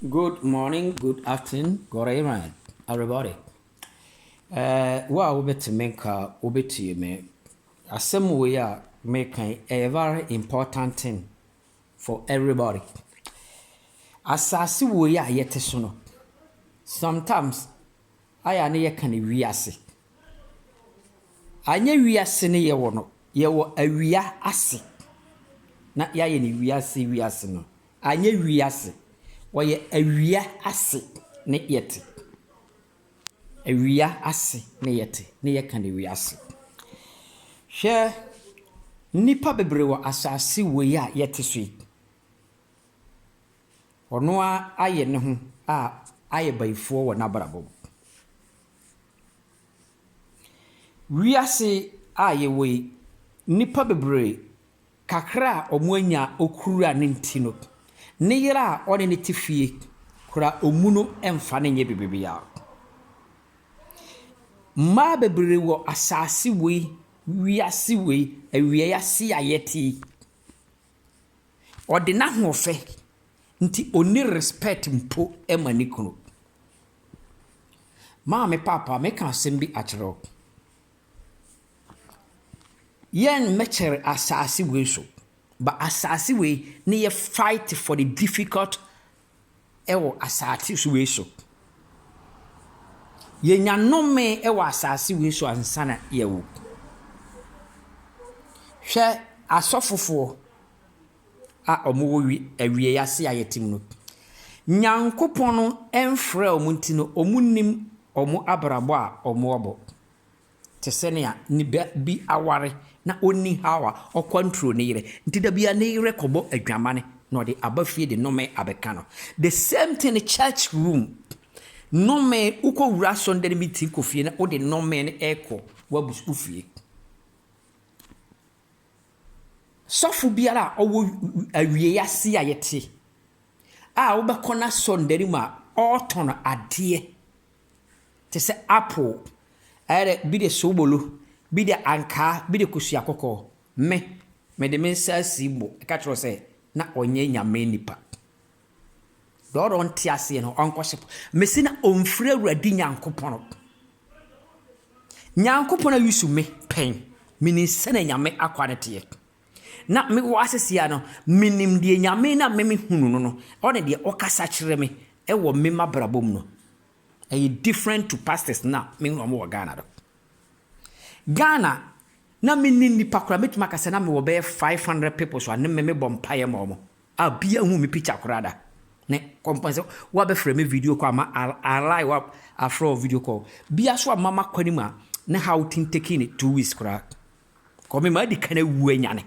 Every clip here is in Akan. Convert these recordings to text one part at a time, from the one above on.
Good morning, good afternoon, good evening everybody. Eh, wo a wobɛte me nka, wobɛtie me. Asɛm wei a meka yi ɛyɛ very important thing for everybody. Asase wei a yɛte so no, sometimes ayɛ a ne yɛ ka no wiase anyɛ wiase ne yɛ wɔ no yɛ wɔ awia ase na yɛ ayɛ no wiase wiase no anyɛ wiase wɔyɛ awia ase ne yɛ te awia ase ne yɛ te ne yɛ ka no wiase hwɛ nipa bebree wɔ asase wɔ yi a yɛ te so yi. Ɔno ara ayɛ ne ho a ayɛ bayifoɔ wɔ n'abrabɔ mu. Wiase a yɛwɔ yi, nnipa bebree, kakra a wɔanya a wɔkura no nti no, ne yere a ɔne no te fie koraa ɔmmu no mfa no nyɛ biribiara. Mmaa bebree wɔ asase wei, wiase wei, awieeɛ ase a yɛte yi. Ɔde n'ahoɔfɛ nti onni respect mpo ma ne kunu. Maame Paapa meka asɛm bi akyerɛ wo. Yɛn mmɛkyɛre asaase wei so but asaase wei ne yɛ fight for the difficult wɔ asase so wei so. Yɛnya nnome wɔ asase wei so ansa na yɛawu. Hwɛ asɔfofoɔ a wɔwɔ wi awieeɛ ase a yɛte mu no. Nyankopɔn mfrɛɛ wɔn nti no, wɔnnim wɔn abrabɔ a wɔabɔ. te sɛ nea ne ba bi aware na onni haw a, ɔkwanturo ne yere. Nti da biara ne yere kɔbɔ adwamane na ɔde aba fie de nnome abɛka no. The same thing church room. Nnome, wokɔwura asɔnndan no bi ti kɔ fie na wode nnome no rekɔ w'abus wo fie. Sɔfo biara a ɔwɔ awiei ase a yɛte a wobɛkɔ n'asɔnndan no mu a ɔretɔn adeɛ te sɛ apple, ɛyɛ dɛ bi de sobolo, bi de ankaa, bi de kosua kɔkɔɔ. Me, mede me nsa asi bo ka kyerɛ wo sɛ, na ɔnyɛ Nyame nipa. Deɛ ɔdɔ nte aseɛ no, ɔnkɔhye po. Mese na ɔmfiri Awurade Nyankopɔn. Nyankopɔn a use me pɛn, menim sɛdeɛ Nyame akwaa no teɛ. Na me wɔ asesia no, menim deɛ Nyame na me mehunu no no, ɔne deɛ ɔkasa kyerɛ me wɔ me mabrabɔ mu no. Ɛyɛ different to pastors no a me ne wɔn wɔ Ghana no. Ghana, na me nni nnipa koraa, mɛtumi aka sɛ na me wɔ bɛyɛ 500 people so a ne me me bɔ mpaeɛ ma wɔn, a bia nhu me picture koraa da. Ne kɔmpɔn sɛ, wabɛfrɛ me video call ama alai wa afrɛ wɔ video call. Bia so a mama kɔ anim a, ne how tin taking it two weeks koraa. Kɔ me ma adi kan awu anyane.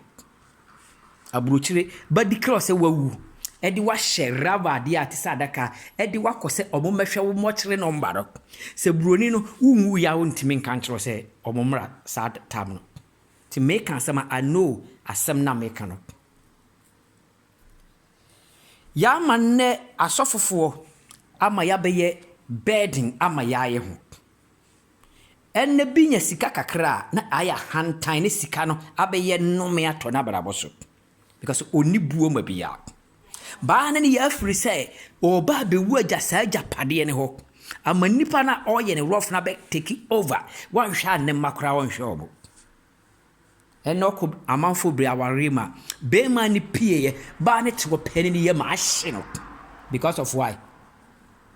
Aburokyire ba di kra sɛ wawu de wo ahyɛ rava adeɛ a ɛte sɛ adaka de wakɔ sɛ wɔn mmɛhwɛ wo mɔkyere nɔmba no. Sɛ buroni no wonwuiɛ a wontumi nka nkyerɛ wo sɛ wɔn mmra saa tam no. Nti meka asɛm a I know asɛm no a meka no. Yɛama nnɛ asɔfofoɔ ama yɛabɛyɛ burden ama yɛn ayɛ ho. Ɛna bi nya sika kakra a na ayɛ ahantan na sika no abɛyɛ nnome atɔ n'abrabɔ so because ɔnni buo ma bia. Baa no ne yɛ afiri sɛ ɔreba abɛwu agya saa agyapadeɛ no hɔ ama nnipa no a ɔreyɛ no rough no abɛ take over, wanhwɛ a ne mma koraa ɔnhwɛ wɔn. Ɛnɛ ɔkɔ amanfoɔ bere awareɛ mu a, barima no pieeɛ baa ne kyewɔ pɛ ne ne yam a ahye no because of why?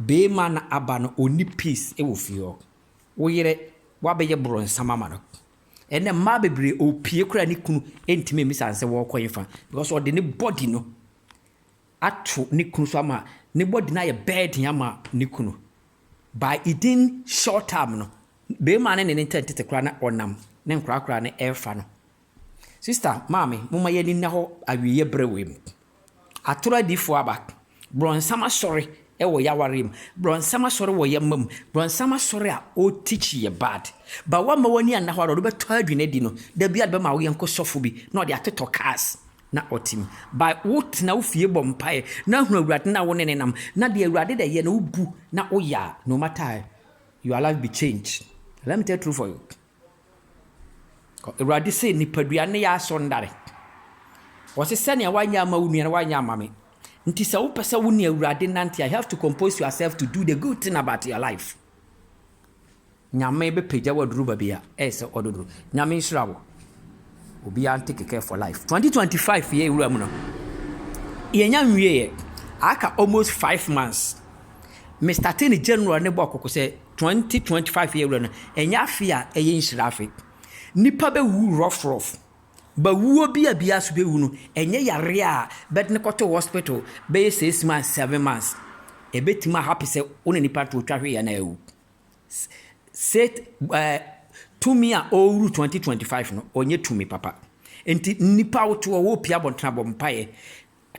Barima no aba no ɔnni peace wɔ fie hɔ. Wo yere wabɛyɛ borɔnsam ama no. Ɛnɛ mmaa bebree ɔpue koraa ne kunu ntumi mmisa no sɛ wɔrekɔ he fa because ɔde ne body no ato ne kunu so ama ne body no ayɛ burden ama ne kunu. By edin short term no bɛɛma no ne ne ntɛn tete koraa na ɔnam ne nkorakoraa no ɛɛfa no sister maame moma yɛni nna hɔ awieɛ brɛ wei mu atoro adifoɔ aba brɔnsam asɔre ɛwɔ yɛawareɛ mu brɔnsam asɔre wɔ yɛma mu brɔnsam asɔre a ɔ teach yɛ bad ba wama wani anna hɔ ara ɔde bɛtɔ adwene adi no da bi a de bɛma wo yɛnko sɔfo bi na ɔde atotɔ cars na ɔtim. By wo tena wo fie bɔ mpaeɛ na hunu awurade na wo ne no nam na deɛ awurade dɛ yɛ no wo bu na wo yɛ a no matter your life be change let me tell true for you awurade sɛ nipadua ne yɛ asɔ ndare wɔse sɛnea wanyɛ ama wo nua no wanyɛ ama me nti sɛ wopɛ sɛ wo ne awurade nante a you have to compose yourself to do the good thing about your life Nyame bɛ pagya wo aduru babi a ɛyɛ sɛ ɔdɔ duru Nyame nhyira wo obiaa nte kɛkɛ for life 2025 yɛ wura mu no yɛnya nwieɛ aka almost five months me starte ne January ne bɔɔ koko sɛ 2025 yɛ wura no ɛnyɛ afe a ɛyɛ nhyira afe nipa bɛ wu rough rough ba wuo bi a biaa so bɛ wu no ɛnyɛ yareɛ a bɛde ne kɔto hospital bɛyɛ six months seven months ɛbɛtumi ahape sɛ wo ne nipa to otwa hwee a na awu. Set ɛɛ tumi a ɔrewuru twenty twenty five no, ɔnyɛ tumi papa. Nti nnipa a wote hɔ, worepue abɔnten a, bɔ mpaeɛ.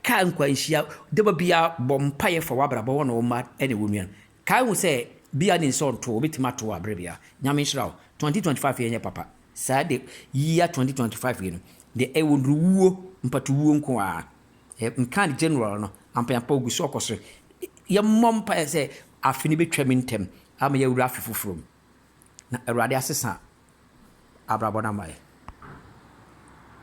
Kaa nkwanhyia, da ba biara bɔ mpaeɛ fa w'abrabɔ, wo ne wo mma ne wo nua. Kae hu sɛ bia ne nsa ɔnto wo, wobɛtumi ato wo aberɛ biara. Nyame nhyira wo. Twenty twenty five yɛ nyɛ papa. Saa de year twenty twenty five yi no, deɛ ɛwɔ no wuo, mpatuwuo nko ara. Nka no general no, ampaapa ogu so ɔkɔ so. Yɛmmɔ mpaeɛ sɛ afe no bɛtwam ntɛm ama yɛawura afe foforɔ mu na Awurade asesa abrabɔ no ama yɛn.